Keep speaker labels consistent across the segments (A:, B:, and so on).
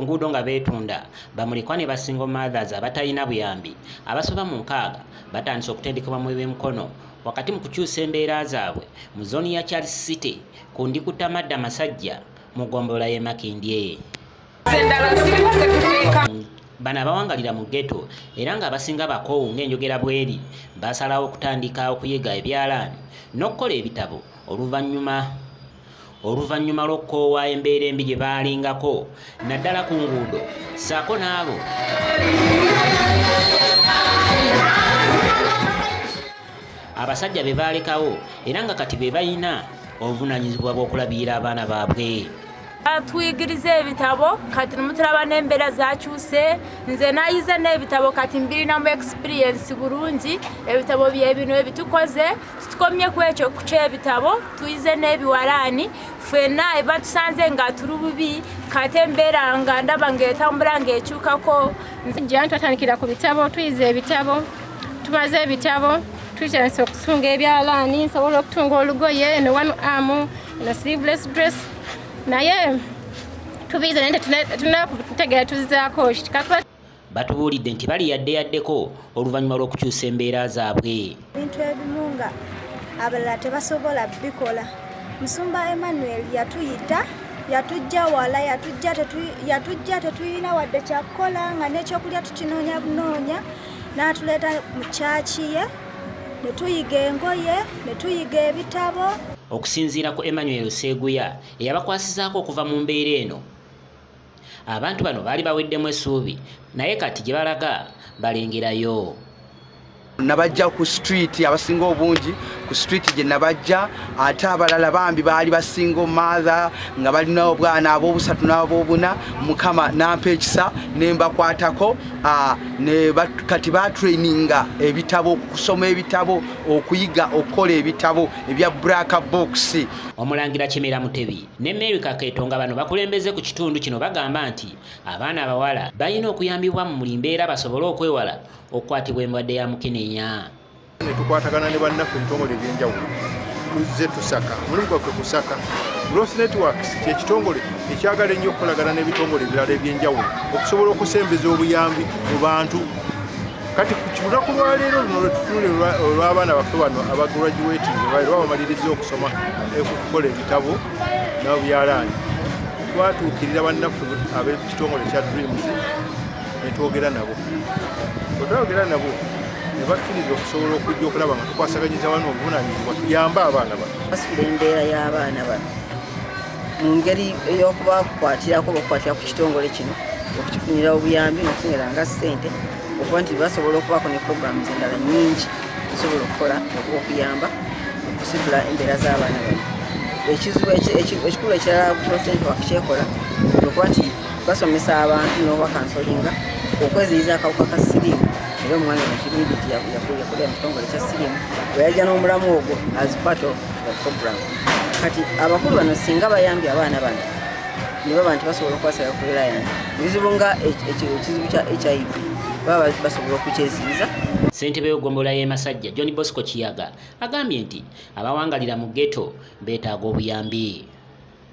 A: nguudo nga beetunda bamulikwa ne basingle mothers abatalina buyambi abasoba mu nkaaga batandise okutendekebwa mu ebyemikono wakati mu kukyusa embeera zaabwe mu zooni ya charles city ku ndikutamada masajja mu ggombolola y'e Makindye. Bano abawangalira mu ghetto era ng'abasinga bakoowu ng'enjogera bweri basalawo okutandika okuyiga ebyalaani n'okukola ebitabo oluvannyuma oluvannyuma lw'okukoowa embeera embi gye baalingako naddala ku nguudo ssaako n'abo abasajja be baalekawo era nga kati be balina obuvunaanyizibwa bw'okulabirira abaana baabwe batuyigiriza
B: ebitabo kati nimutulaba n'embeera zakyuse nze nayize n'ebitabo kati mbirinamu experiensi bulungi ebitabo byebino ebitukoze tutukomye ku ekyo ku kyebitabo tuyize n'ebiwalaani fena ebatusanze nga tuli bubi kati embeera nga ndaba ngaetambula ngaekyukako nze jantwatandikira
C: ku bitabo tuyize ebitabo tubaze ebitabo tukyasa okutunga ebyalaani nsobola okutunga olugoye eno one arm eno sleeveless dress naye tubiize naye tetunakutegeera tuzizaako kikakuba
A: batubuulidde nti bali yadde yaddeko oluvannyuma lw'okukyusa embeera zaabwe ebintu ebimu
D: nga abalala tebasobola bikola musumba emmanuel yatuyita yatujja wala yatujja tetulina wadde kyakukola nga n'ekyokulya tukinoonya bunoonya n'atuleeta mu kyaki ye ne tuyiga engoye ne tuyiga ebitabo okusinziira ku
A: emmanuel seeguya eyabakwasizaako okuva mu mbeera eno abantu bano baali baweddemu essuubi naye kati gye balaga balengerayo
E: nabajja ku street abasinga obungi ku street gye nabajja ate abalala bambi baali basingo mathe nga balina obwana abobusatu nabobuna mukama nampa ekisa nembakwatako ah, kati batraininga ebitabo okusoma ebitabo okuyiga okukola ebitabo ebya braka box omulangira kimera
A: mutebi ne mary kaketo nga bano bakulembeze ku kitundu kino bagamba nti abaana abawala balina okuyambibwa mu muli mbeera basobole okwewala okukwatibwa embwadde ya mukenenya ne tukwatagana
F: ne bannaffe ebitongole eby'enjawulo tuzze tusaka omulimu gwaffe kusaka Growth Networks kyekitongole ekyagala ennyo okukolagana n'ebitongole ebirala eby'enjawulo okusobola okusembeza obuyambi mu bantu kati ku lunaku lwaleero luno lwetutunule olw'abaana baffe bano abagraduating era bamaliriza okusoma okukola ebitabo nabyalaani twatuukirira bannaffe ab'ekitongole kya dreams ne twogera nabo bwe twayogera nabo ne bakkiriza okusobola okujja okulaba nga tukwasaganyiza wano obuvunaanyizibwa tuyambe abaana bano basibira embeera
G: y'abaana bano mu ngeri ey'okubakwatirako bakukwatira ku kitongole kino okukifunira obuyambi nokufunira nga ssente okuba nti basobola okubaako ne programu zendala nyingi zisobola okukola okuyamba okusitula embeera z'abaana bano ekizibu ekikulu ekirala pulezidenti wakukyekola okuba nti basomesa abantu nobakansolinga okweziyiza akawuka ka sirimu era omwana wakirindi ti yakulira mu kitongole kya sirimu weyajja n'omulamu ogwo as part of the program kati abakulu bano singa bayambye abaana bano nebaba nti basobola okukwasira ku reliant ebizibu nga ekizibu kya hiv baba basobola okukyeziyiza ssentebe w'eggombolola
A: y'e masajja john bosco kiyaga agambye nti abawangalira mu ghetto beetaaga obuyambi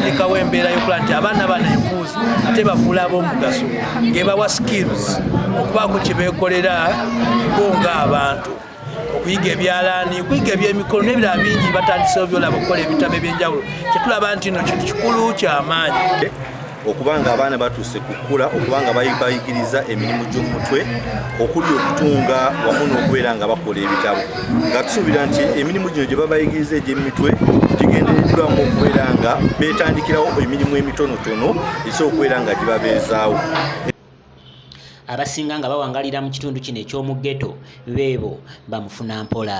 A: lekawo
H: embeera yokuba nti abaana bana enfuuzi ate bafuula ab'omugaso ngebawa skills okubaako kye beekolera bo nga abantu okuyiga ebyalaani okuyiga ebyemikono n'ebirala bingi batandisewo byolaba okukola ebitabo ebyenjawulo kyetulaba nti no kintu kikulu kyamaanyi okubanga
I: abaana batuuse kukula okubanga bayigiriza emirimu gy'omutwe okuli okutunga wamu n'okubeera nga bakola ebitabo nga tusuubira nti emirimu gino gye babayigiriza egy'emitwe gigendereddwamu okubeera nga beetandikirawo emirimu emitonotono esobola okubeera nga gibabeezaawo
A: abasinga nga bawangalira mu kitundu kino eky'omu ghetto beebo bamufuna mpola